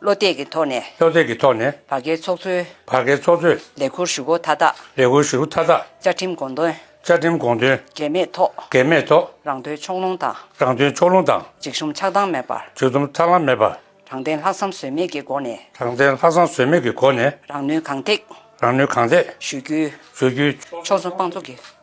བློ་གཏད་ཀྱི་ཐོག་ནས། བློ་གཏད་ཀྱི་ཐོག་ནས། བར་བརྒལ་ཚོགས་གཙོའི། བར་བརྒལ་ཚོགས་གཙོས། ལས་འཁུར་ཞུ་སྒོ་མཐའ་དག། ལས་འཁུར་ཞུ་སྒོ་མཐའ་དག། བཅའ་ཁྲིམས་དགོངས་དོན། བཅའ་ཁྲིམས་དགོངས་དོན། འགལ་མེད་ཐོག། འགལ་མེད་ཐོག། རང་དོན་ཕྱོགས་ལྷུང་དང། རང་དོན་ཕྱོགས་ལྷུང་དང། འཇིགས་ཞུམ་ཆགས་སྡང་མེད་པར། འཇིགས་ཞུམ་ཆགས་སྡང་མེད་པར། དྲང་བདེན་ལྷག་བསམ་ཟོལ་མེད་ཀྱི་སྒོ་ནས། དྲང་བདེན་ལྷག་བསམ་ཟོལ་མེད་ཀྱི་སྒོ་ནས། རང་ནུས་གང་ཐེག། རང་ནུས་གང་ཐེག། ཞུ་རྒྱུའི། ཞུ་རྒྱུའི། ཕྱོགས་མཚུངས་དཔང་བཙུགས་ཀྱི།